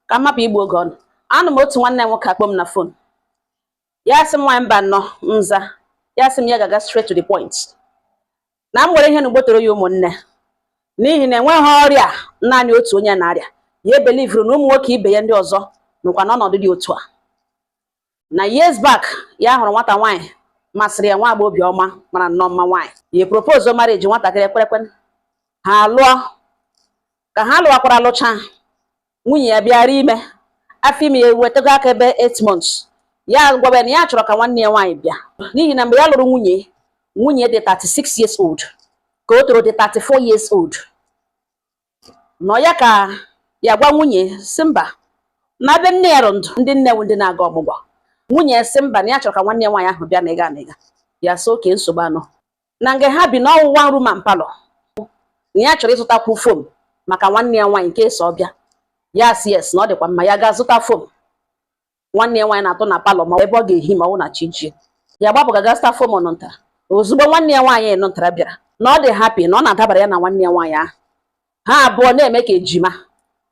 ka m hapụ igbu oge ụnụ anọ m otu nwanne m nwoke akpọọ m na fon ya sị m nwaanyị Mbanọ m za ya sị m ya ga-aga straight to the point na m nwere ihe na ugbotoro ya ụmụnne n'ihi na enweghị ọrịa naanị otu onye na-arịa ya believuru na ụmụ nwoke ibe ya ndị ọzọ nọkwa n'ọnọdụ dị otu a na years back ya hụrụ nwata nwaanyị masịrị ya nwa agbọghọbịa ọma mara nnọọ mma nwaanyị ya propose marriage nwatakịrị ekwerekwa ha alụọ ka ha lụwakwara lụcha nwunye ya bịara ime afọ ime ya ewetago aka ebe 8 months ya gwabe na ya chọrọ ka nwanne ya nwaanyị bịa n'ihi na mgbe ya lụrụ nwunye nwunye dị 36 years old nke ọ tọrọ dị 34 years old n'ọ ya ka ya gwa nwunye sị mba na ebe nne ya rị ndụ ndị nne wụ ndị na-aga ọmụgwọ nwunye sị mba na ya chọrọ ka nwanne ya nwaanyị ahụ bịa na ịga na ịga ya sị okay nsogbu anọ na nga ha bi na ọ wụ one room and parlour na ya chọrọ ịzụtakwu foam maka nwanne ya nwaanyị nke so bịa ya sị yes na ọ dịkwa mma ya ga-azụta foam nwanne ya nwaanyị na-atọ na parlour ma ebe ọ ga-ehi ma ọ wụ na chi jie ya agbapụ gaa ga zụta foam nụ ntara ozugbo nwanne ya nwaanyị nụ ntara bịara na ọ dị happy na ọ na-adabara ya na nwanne ya nwaanyị ahụ ha abụọ na-eme ka ejima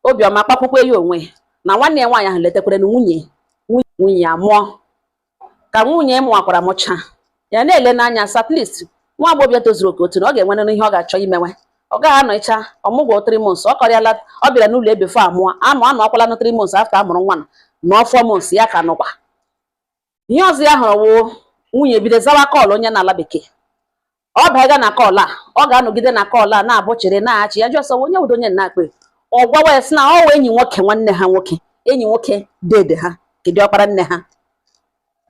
obiọma kpakwukwe ya onwe ya na nwanne ya nwaanyị ahụ letakwara na nwunye nwunye amụọ ka nwunye mụwakwara mụcha ya na-ele n'anya sị at least nwa agbọghọbịa tozuru oke otu na ọ ga-enwere ihe ọ ga-achọ imewe ọ gaghị anọcha ọmụgwọ three months ọ kọrịala ọ bịara n'ụlọ before a mụọ nwa anọkwala na three months after a mụrụ nwa na four months ya ka nọkwa ihe ọzọ ya hụrụ wụ nwunye bido zawa call onye nọ ala bekee ọ baga na call a ọ ga-anọgide na call a na-abụ chere na-achị ya jụọ onye wụdị onye na-akpọ ọ gwawa ya sị na ọ wụ enyi nwoke nwanne ha nwoke enyi nwoke dede ha nke dị ọkpara nne ha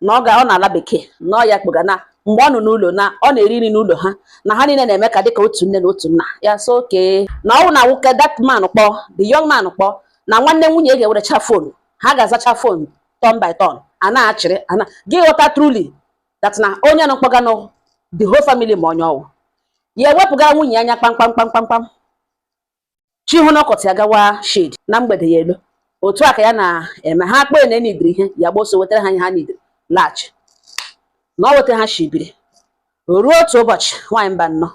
na ọ ga ọ nọ ala bekee na ọ ya kpọga na mgbe ọ nọ n'ụlọ na ọ na-eri nri n'ụlọ ha na ha niile na-eme ka dịka otu nne na otu nna ya sị okay na ọ wụ na nwoke that man kpọọ the young man kpọọ na nwanne nwunye ga-ewerecha fon ha ga-azacha fon turn by turn a na-achịrị ana gị ghọta truly that na onye nọ kpọga na the whole family ma onye ọ wụ ya ewepụga nwunye anya kpamkpam kpamkpam kpam chi họọ n'ọkọtụ ya gawa shed na mgbede ya alọ otu a ka ya na-eme ha akpọ ya na ha needịrị ihe ya gba ọsọ wetara ha ihe ha needịrị laghachi na ọ wụ etu a ha shi biri ruo otu ụbọchị nwaanyị Mbanọ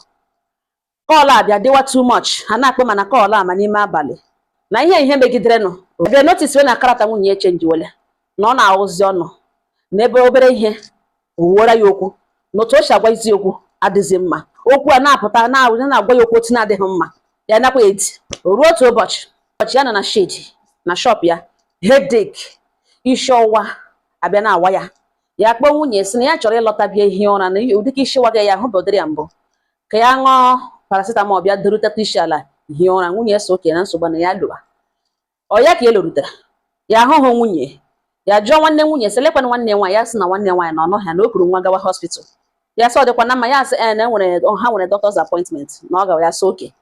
call abịa dịwa too much ha na-akpọ ma na call a ma n'ime abalị na ihe ihe megidere ọ bịa noticewe na character nwunye echangewele na ọ na-awụzi ọnụ n'ebe obere ihe owuora ya okwu na otu o si agwazi ya okwu adịghị mma okwu a na-apụta na-agwa ya okwu otu na-adịghị mma ya nakwa edi o ruo otu ụbọchị ụbọchị ya nọ na shed na shop ya headache isi ọwụwa abịa na-awa ya ya kpọọ nwunye sị na ya chọrọ ịlọta bịa hie ụra na ụdị ka isi waga ya ahụ bụdịrị ya mbụ ka ya ṅụọ paracetamol bịa duru teta isi ala hie ụra nwunye ya sị okay na nsogbu na ya lọwa ọ ya ka e lorutara ya ahụhụ nwunye ya jụọ nwanne nwunye sị lekwana nwanne nwaanyị ya sị na nwanne nwaanyị na ọ nọghị ya na o kuru nwa gawa hospital ya sị ọ dịkwa na mma ya sị ee na enwere ha nwere doctor's appointment na ọ gawa ya sị oke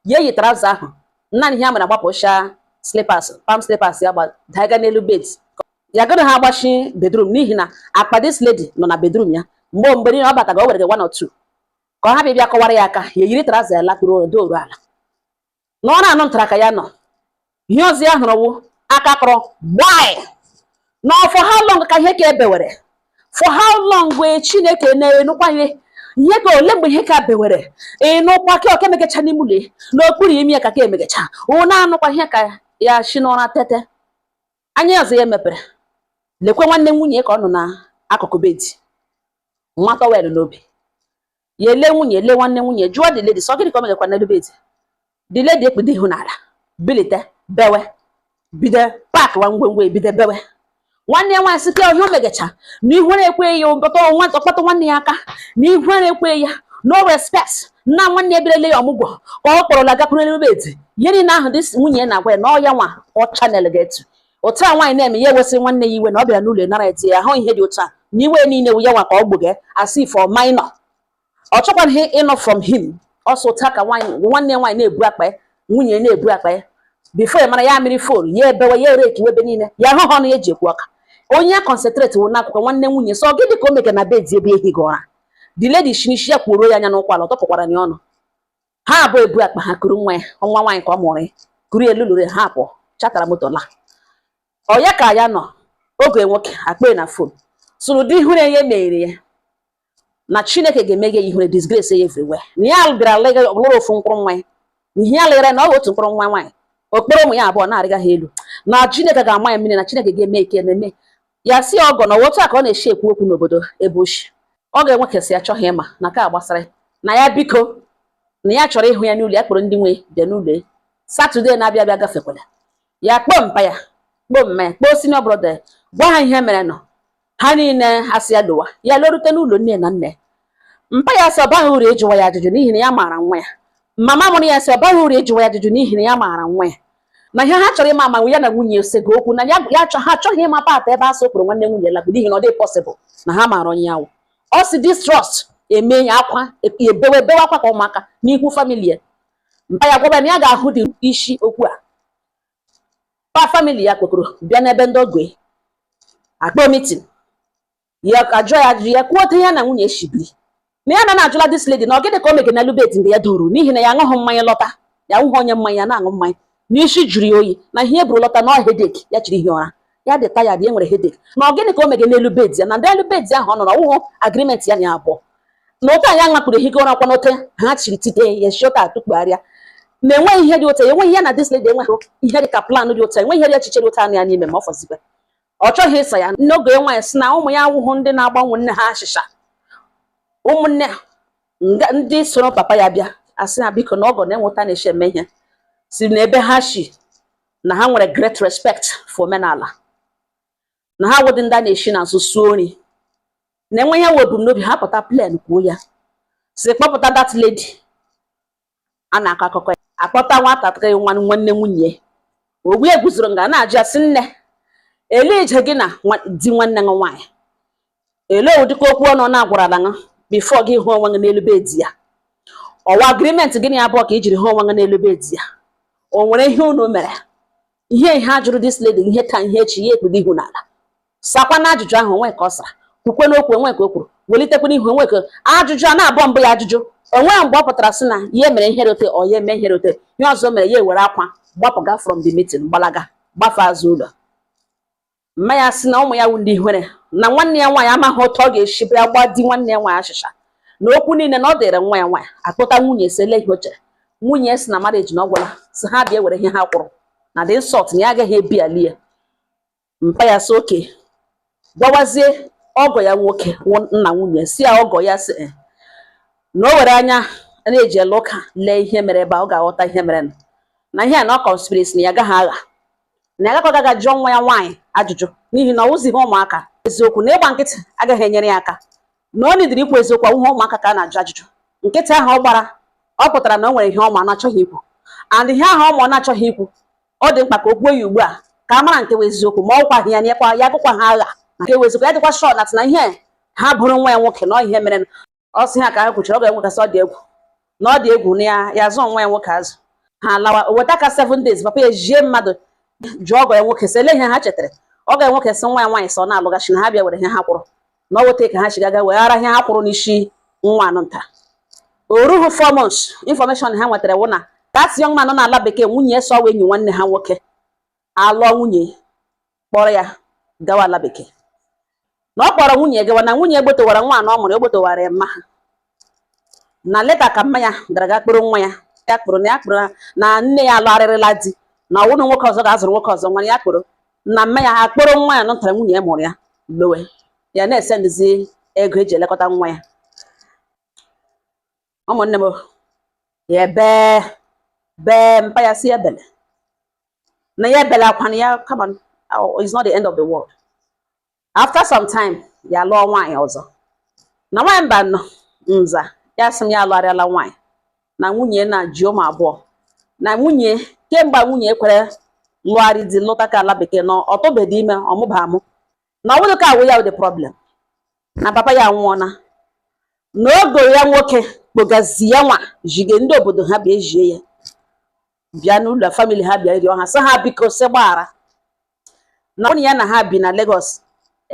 ya eyi traụza ahụ naanị ihe ya mere agbapụcha slippers palm slippers ya daiga n'elu bed ya anaha agbachi bedroom n'ihi na akpa this lady nọ na bedroom ya mgbe mgbe niile ọ bataga o were gị one or two ka ọ ha bịa bịa kọwara ya aka ya eyiri traụza ya lakpuru odo oru ala na ọ na-anụ ntara ka ya nọ ihe ọzọ ya hụrụ wụ aka kụrụ gbaa na for how long ka ihe ka ebewere for how long wee chineke na-enukwa ihe ihe ka ole mgbe ihe ka bewere ịnụkwa ka ọka emegecha n'ime ụlọ n'okpuru imi ya ka ka emegecha ụnụ anụkwa ihe ka ya shi n'ụra tete anya ọzọ ya mepere lekwe nwanne nwunye ka ọ nọ n'akụkụ bedi wa tọwel n'obi ya ele nwunye ele nwanne nwunye jụọ the lady so gịnị ka o megakwa n'elu bedi the lady ekpudo ihu n'ala bilite bewe bido pakwa ngwongwo bido bewe nwanne ya nwaanyị sị ka ihe o megacha na ihu na-ekweghị ya ụbọta ọnwa ọkpọta nwanne ya aka na ihu na-ekweghị ya no respect na nwanne ya bịara ile ya ọmụgwọ ka ọ kpọrọla gakwuru n'elu bedi ihe niile ahụ dị nwunye na-agwa ya na ọ ya nwa ọ chanelga ya to otu a nwaanyị na-eme ya ewesị nwanne ya iwe na ọ bịara n'ụlọ nara ya di ya ahụ ihe dị otu a na iwe niile wụ ya nwa ka ọ gbuge as from now ọ chọkwaghị ịnụ from him ọsọ otu a ka nwaanyị nwanne ya nwaanyị na-ebu akpa ya nwunye na-ebu akpa ya bifo ya mara ihe mere fon ya ebewe ya eringiwe ebe niile ya ahụha ọnụ ya ji ekwu ụka onye ya concentrate wụ n'akụkụ nwanne nwunye so gịnị ka o mege na bedi ebe ya hige ụra the lady shi n'ishi ya kwuoro ya anya n'ụkwụ ala ọ tụpụkwara ya ọnụ ha abụọ ebu akpa ha kuru nwa ya nwa nwaanyị ka ọ mụrụ ya kuru elu lụrụ ha apụ chatara moto la ọ ya ka ya nọ ọgọ nwoke akpọ ya na fon sị ụdị ihure ya mere ya na chineke ga-emeghe ya ihure disgrace ya everywhere na ya bịara lega ọbụlụrụ ofu mkpụrụ nwa ya na ihe ya legara na ọ otu mkpụrụ nwa nwaanyị o kporo ụmụ ya abụọ na-arịga ha elu na chineke ga-ama ya mmiri na chineke ga-eme ike na-eme ya sị ọgọ na ọ wụ otu a ka ọ na-eshi ekwu okwu n'obodo ebe o shi ọ ga-enwe kesị ya chọghị ịma na ka gbasara na ya biko na ya chọrọ ịhụ ya n'ụlọ ya kpọrọ ndị nwe ya bịa n'ụlọ ya satọde na-abịa abịa gafekwala ya kpọọ mpa ya kpọọ mma ya kpọọ senior brother ya gwa ha ihe merenụ ha niile asị ya lowa ya lorute n'ụlọ nne na nna mpa ya sị ọ baghị uru ịjụwa ya ajụjụ n'ihi na ya maara nwa ya mama mụrụ ya sị ọ baghị uru ịjụwa ya ajụjụ n'ihi na ya maara nwa ya na ihe ha chọrọ ịma ma ya na nwunye sego okwu na ya achọ ha achọghị ịma part a ebe a sị ọ kpọrọ nwanne nwunye lago n'ihi na ọ dịghị pọsịbụl na ha maara onye ọ wụ ọ sị this trust eme ya akwa ebewe bewe akwa ka ụmụaka n'ihu famili ya mpa ya agwa ya na ya ga-ahụ dị isi okwu a pa famili ya kpokoro bịa n'ebe ndị ọgọ ya akpọ mitin ya ka jụọ ya ajụjụ ya kwuo otu ya na nwunye shibiri na ya na na-ajụla this lady na ọ gịnị ka o mege n'elu bed mgbe ya duru n'ihi na ya aṅụghị mmanya lọta ya awụghị onye mmanya ya na-aṅụ mmanya na isi jụrụ ya oyi na ihe e buru lọta na headache ya jiri hie ụra ya dị tired ya nwere headache na ọ gịnị ka o mege n'elu bed ya na ndị elu bed ahụ ọ nọrọ ọ wụhụ agreement ya na ya abụọ na otu anyị aṅakpụrụ ehike ụra kwa n'ote ha chiri tite ya shota atụkpugharịa na enweghị ihe dị otu a enweghị ya na this lady enweghị ihe dị ka plan dị otu a enweghị ihe dị echiche dị otu a nọ ya n'ime ma ọ fọzikwa ọ chọghị ịsa ya nne ọgọ ya nwaanyị sị na ụmụ ya awụhụ ndị na-agba nwanne ha achịcha ụmụnne ndị soro papa ya bịa asị ha biko na ọgọ na-enweta na-eshi eme ihe si n'ebe ha shi na ha nwere great respect for omenala na ha awụghị ndị a na-eshi n'azụ suo nri na e nwee ihe ha bu n'obi ha pụta plain kwuo ya sị kpọpụta that lady a na-akọ akụkọ ya akpọta nwatakịrị nwa nwanne nwunye ogbu ya guzoro nga a na-ajụ ya sị nne elee ije gị na di nwanne gị nwaanyị elee ụdịka okwu ọnụ na-agwarala gị before gị hụ onwe gị n'elu bed ya ọ wụ agreement gị na ya abụọ ka i jiri hụ onwe gị n'elu bed ya o nwere ihe unu mere ihe ihe a jụrụ this lady ihe taa ihe echi ya ekpudo ihu n'ala sakwanụ ajụjụ ahụ o nweghị ka ọ sara kwukwanụ okwu o nweghị ka o kwuru welitekwanụ ihu o nweghị ka ajụjụ a na-abụọ mbụ ya ajụjụ o nweghị mgbe ọ pụtara sị na ya mere ihe dị otu a ọ ya eme ihe dị otu a ihe ọzọ mere ya ewere akwa gbapụga from the meeting gbalaga gbafe azụ ụlọ mma ya sị na ụmụ ya wụ ndị ihere na nwanne ya nwaanyị amaghị otu ọ ga-esi bịa gba di nwanne ya nwaanyị achịcha na okwu niile na ọ dịrị nwa ya nwaanyị akpọta nwunye sị elee ihe o chere nwunye sị na marriage na ọ gwụla sị ha bịa were ihe ha kwụrụ na this insult na ya agaghị ebiali ya mpa ya sị okay gwawazie ọgọ ya nwoke wụ- nna nwunye si ya ọgọ ya sị "Eh, na o were anya a na-eji ele ụka lee ihe mere ebe a ọ ga-aghọta ihe mere na ihe a na ọ conspiracy na ya agaghị aga na ya agakwaghị aga jụọ nwa ya nwaanyị ajụjụ n'ihi na ọ wụzighị ụmụaka eziokwu na ịgba nkịtị agaghị enyere ya aka na o needịrị ikwu eziokwu awụhụ ụmụaka ka a na-ajụ ajụjụ nkịtị ahụ ọ gbara ọ pụtara na o nwere ihe ọ ma ọ na-achọghị ikwu and ihe ahụ ọ ma ọ na-achọghị ikwu ọ dị mkpa ka o kwuo ya ugbu a ka a mara nke bụ eziokwu ma ọ gwaghị ya nyekwa ya gụkwa ha agha na nke bụ eziokwu ya dịkwa sure na ihe ha boro nwa ya nwoke na ọ ihe mere ọ sị ha ka ha kwuchara ọgọ ya nwoke asị ọ dị egwu na ọ dị egwu na ya ya zụọ nwa ya nwoke azụ ha lawa weta ka seven days papa ya ezie mmadụ jụọ ọgọ ya nwoke sị ele ihe ha chetara ọgọ ya nwoke sị nwa ya nwaanyị sị ọ na-alụghachi na ha bịa were ihe ha kwụrụ na ọ weta ka ha chigaga weghara ihe ha kwụrụ n'isi nwaanyị nta o rughị four months information ha nwetara wụ na that young man nọ n'ala bekee nwunye ya so enyi nwanne ha nwoke alụọ nwunye kpọrọ ya gawa ala bekee na ọ kpọrọ nwunye gawa na nwunye egbotowara nwa na ọ mụrụ egbotowara ya mma ha na later ka mma ya gara ga kpọrọ nwa ya ya kwuru na ya kwuru na nne ya alụgharịrịla di na ọ wụrụ nwoke ọzọ ga-azụrụ nwoke ọzọ nwa ya kwuru na mma ya ha kpọrọ nwa ya nụtara nwunye ya mụrụ ya lowe ya na-esendizi ego eji elekọta nwa ya ụmụnne m ya bee bee mpa ya sị ya ebele na ya ebele akwa na ya come on, it's not the end of the world after some time ya lụọ nwaanyị ọzọ na nwaanyị mbụ ahụ nza ya sị m ya alụgharịala nwaanyị na nwunye na ji ụmụ abụọ na nwunye kemgbe nwunye kwere lụgharị di lụta ka ala bekee na ọ tụbedị ime ọ mụba amụ na ọ bụrụ ka ọ wụ ya wụ the problem na papa ya anwụọla na ọgọ ya nwoke kpọgazi ya nwa zige ndị obodo ha bịa ezie ya bịa n'ụlọ family ha bịa rịọ ha sị ha biko sị gbaghara na onye ya na ha bi na Lagos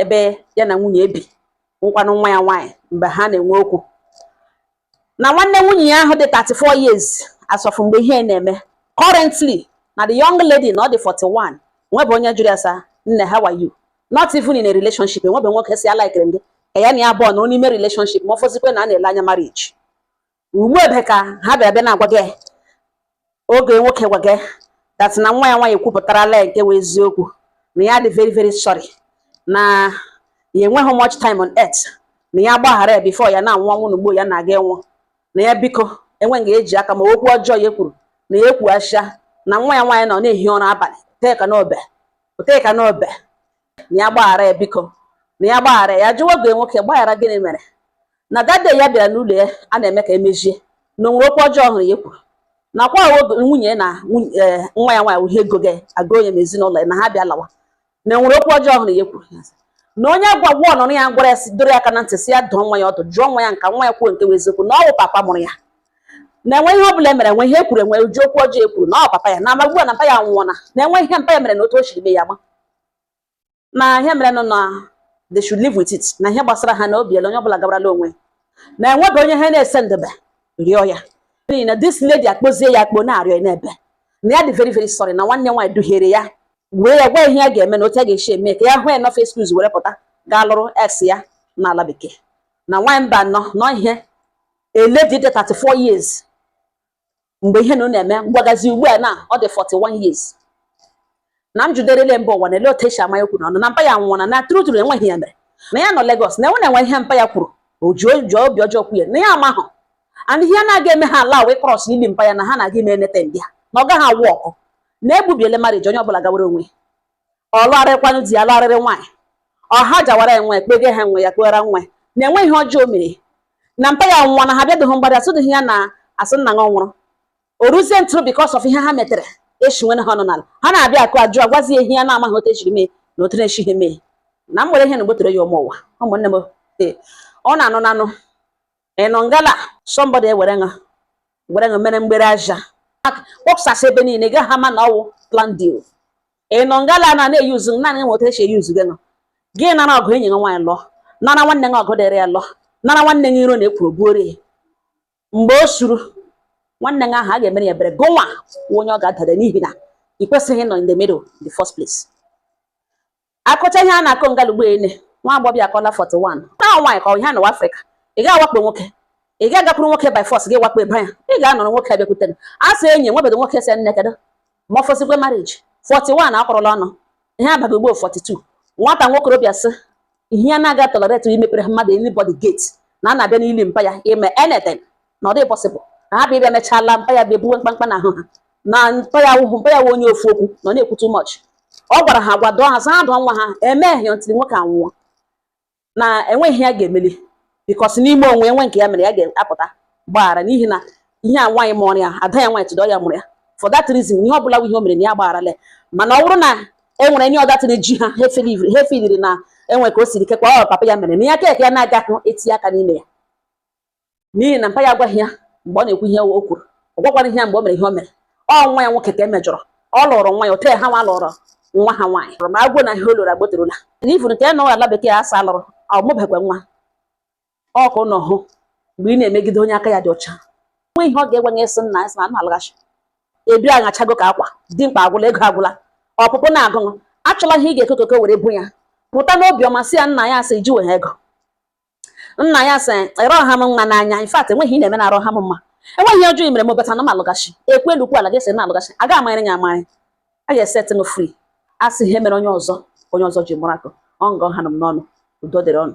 ebe ya na nwunye bi wụkwanụ nwa ya nwaanyị mgbe ha na-enwe okwu na nwanne nwunye ya ahụ dị 34 years as of mgbe ihe na-eme currently na the young lady na ọ dị 41 enwebe onye jụrụ ya sị nne how are you not even in a relationship enwebe nwoke sị a likere gị ka ya na ya abụọ nọ n'ime relationship ma ọ fọzikwe na a na-ele anya marriage ugbu ebe ka ha bịara bịa na-agwa gị ọgọ ya nwoke gwaga that na nwa ya nwaanyị ekwupụtarala ya nke wụ eziokwu na ya dị very very sorry na ya enweghị much time on earth na ya gbaghara ya before ya na-anwụ ọnwụ n'ugbu ya na-aga ịnwụ na ya biko enweghị eji aka ma okwu ọjọọ ya kwuru na ya ekwughachia na nwa ya nwaanyị nọ na-ehi ụra abalị teka n'obe teka n'obe na ya gbaghara ya biko na ya gbaghara ya jụwa ọgọ ya nwoke gbaghara gịnị mere na daddy ya bịara n'ụlọ ya a na-eme ka emejie na o nwere okwu ọjọọ ọ hụrụ ya kwuru nakwa nwunye na eh, nwa ya nwaanyị uhie ego gị agụ onye na ezinụlọ ya na ha bịa lawa na e nwere okwu ọjọọ ọ hụrụ ya kwuru na onye gwa gwa ọ nụrụ ya gwara ya sị dọrọ ya aka na ntị sị ya dụọ nwa ya ọdụ jụọ nwa ya ka nwa ya kwuo nke bụ eziokwu na ọ bụ papa mụrụ ya na enwe ihe ọ bụla e mere enwe ihe e kwuru enwe uju okwu ọjọọ e kwuru na ọ papa ya na amagbu na mpa ya nwụọna na enwe ihe mpa ya mere na otu o siri mee ya ma na ihe mere nọ na they should live with it na ihe gbasara ha na o biela onye ọbụla gabarala onwe na enwebeghị onye ha na-esende bịa rịọ ya n'ihi na this lady akpọzie ya akpọ na-arịọ na-ebe na ya dị very very sorry na nwanne nwaanyị duhiere ya wee ya gwa ihe ya ga-eme na otu a ga-esi eme ka ya hụ enough excuse were pụta gaa lụrụ ex ya n'ala bekee na nwaanyị mbụ ahụ nọ ihe a lady dị 34 years mgbe ihe na ọ na-eme m gwagazi ugbu a na ọ dị 41 years na m jụderele mba ụwa na ele otu e si ama ya okwu n'ọnụ na mpa ya nwụọna na true true enweghị ya mere na ya nọ Lagos na enwe na-enwe ihe mpa ya kwuru o ji o ji obi ọjọọ kwuye na ya amahụ and ihe na-aga eme ha ala wee cross ili mpa ya na ha na-aga ime enete ndị ha na ọ gaghị awụ ọkụ na egbubiele marriage onye ọbụla gawere onwe ọ lụgharịkwanụ di ya lụgharịrị nwaanyị ọ ha jawara enwe kpege ha nwe ya kpegara nwa na enwe ihe ọjọọ mere na mpa ya nwa na ha bịadụghị mgbada asụdịghị ya na asị nna ya nwụrụ o ruzie ntụrụ because of ihe ha metere echi nwere ha ọnụ n'ala ha na-abịa akụ ajụ agwazi ehi ya na-amaghị otu e siri mee na otu na-esighị mee na m nwere ihe na gbotere ya ụmụ ụwa ụmụnne m ee ọ na-anụ nanụ ịnọ ngala somebody ewere ṅa were ṅa mere mgbere aja kpọpụsasị ebe niile ga ha ma na ọ wụ planned deal ịnọ ngala na na-eyuzu naanị nweta e si eyuzu gị ṅa gị nara ọgụ enyi gị nwaanyị lụọ nara nwanne gị ọgụ dịrị ya lụọ nara nwanne gị iro na-ekwuru buoro ya mgbe o suru nwanne gị ahụ a ga-emere ya ebere gị nwa onye ọ ga-adada n'ihi na ị kwesịghị ịnọ in the middle in the first place akọcha ihe a na-akọ ngala ugbu a lee nwa agbọbịa akọla 41 na nwaanyị ka ọ ihe n'ụwa Afrịka ị gaghị awakpo nwoke ị gaghị agakwuru nwoke by force gị wakpo ebe ya ị ga-anọrọ nwoke abịakwutere a sị enyi nwebedo nwoke sị nne kedu ma ọ fọzikwa marriage 41 akọrọla ụnụ ihe abaghị ugbo 42 nwata nwokorobịa sị ihe ya na-aga tolerate imepere mmadụ anybody gate na a na-abịa n'ili mpa ya ime anything na ọ dịghị possible na ha bịa mechala mpa ya bụ ebuwe mkpamkpa na ahụ ha na mpa ya wụhụ mpa ya wụ onye ofu okwu na ọ na-ekwu too much ọ gwara ha gwa dụọ ha zaa dụọ nwa ha emeghị until nwoke anwụọ na enweghị ihe ya ga-emeli because n'ime onwe enwe nke ya mere ya ga-apụta gbaghara n'ihi na ihe a nwaanyị mụrụ ya ada ya nwaanyị tụdọ ya mụrụ ya for that reason ihe ọ bụla ihe o mere na ya gbagharala mana ọ bụrụ na e nwere any other thing ji ha ha efeli- ha efiliri na enwe ka o siri kekwa ọ papa ya mere na ya keke ya na-agahụ etinye aka n'ime ya n'ihi na mpa ya agwaghị ya mgbe ọ na-ekwu ihe o kwuru ọ gwakwarahị ya mgbe o mere ihe o mere ọ nwa ya nwoke ka e mejọrọ ọ lụrụ nwa ya otu ha nwa lụrụ nwa ha nwaanyị ma agwụ na ihe ọ lụrụ agboterula n'ifu nke nọ ala bekee asa lụrụ ọ mụbakwa nwa ọ ka ụnụ hụ mgbe ị na-emegide onye aka ya dị ọcha nwe ihe ọ ga-egwe nye sị nna ya sị na na-alaghachi ebi aghachago ka akwa dị mkpa agwụla ego agwụla ọpụpụ na-agụ ụnụ achọla ihe ị ga-ekokoko were bu ya pụta n'obiọma si ya nna ya asị jiwe ego nna ya sị ịrọ ha m nwa n'anya in fact enweghị ihe ị na-eme na arụ ha m mma enweghị ihe ọjọọ i mere m bata na m alọghachi ekwu elu ekwu ala ga-esi na alọghachi a ga amanyere ya amanyị a ga-eset m free a sị ihe mere onye ọzọ onye ọzọ ji mụrụ akọ ọ nga ọ ha nọ m n'ọnụ udo dịrị ụnụ